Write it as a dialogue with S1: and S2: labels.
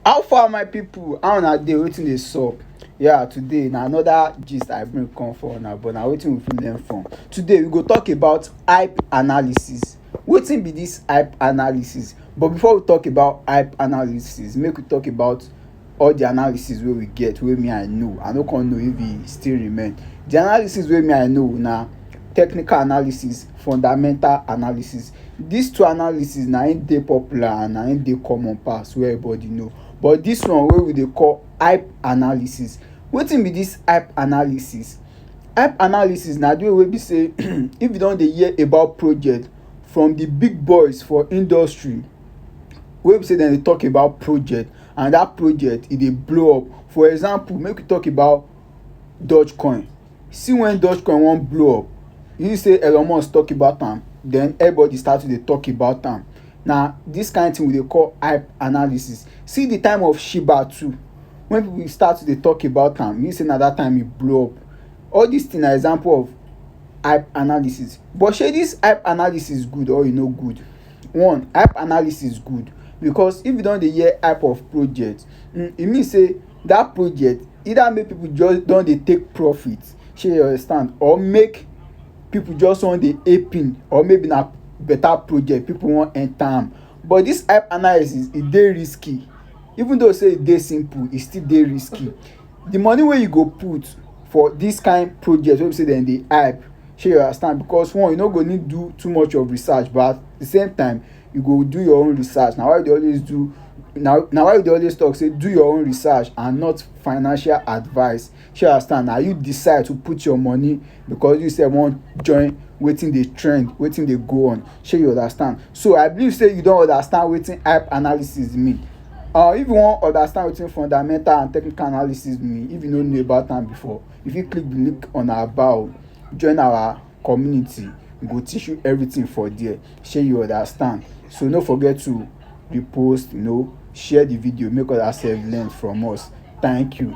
S1: How far my pipu, how una dey, wetin dey sup? Yeah today na another gist I bring come for una but na wetin we fit learn from. Today we go talk about hype analysis. Wetin be dis hype analysis? But before we talk about hype analysis make we talk about all de analysis wey we get wey me I know, I no come know if e still remain. De analysis wey me I know na technical analysis, fundamental analysis. Dis two analysis na im dey popular and na im dey common pass wey everybody know. But dis one wey we dey call hype analysis. Wetin be dis hype analysis? Hype analysis na de one wey be sey if you don dey hear about project from de big boys for industry wey be sey dem dey talk about project and dat project e dey blow up. For example, make we talk about Doge Coin. See when Dogecoin wan blow up, you say Elon Musk talk about am, then everybody start to dey talk about am. Na this kind thing we dey call hype analysis. See the time of Shiba too, when people start to dey talk about am, you say na that time e blow up. All these things na example of hype analysis. But shey this hype analysis good or e no good? One, hype analysis good because if you don dey hear hype of project, e mean sey that project either make people just don dey take profit shey you understand or make people just wan dey aping or maybe na better project people wan enter am but this app analysis e dey risky even though say e dey simple e still dey risky the money wey you go put for this kind project wey be say dem dey hype shey you understand because one you no go need do too much of research but at the same time you go do your own research na why we dey always do na na why we dey always talk say do your own research and not financial advice shey you understand na you decide to put your money because you sef wan join wetin dey trend wetin dey go on shey you understand so i believe say you don understand wetin hype analysis mean uh, if you wan understand wetin fundamental and technical analysis mean if you no know about am before you fit click the link on our bio join our community go teach you everything for there shey you understand so no forget to repost you know share the video make others sef learn from us thank you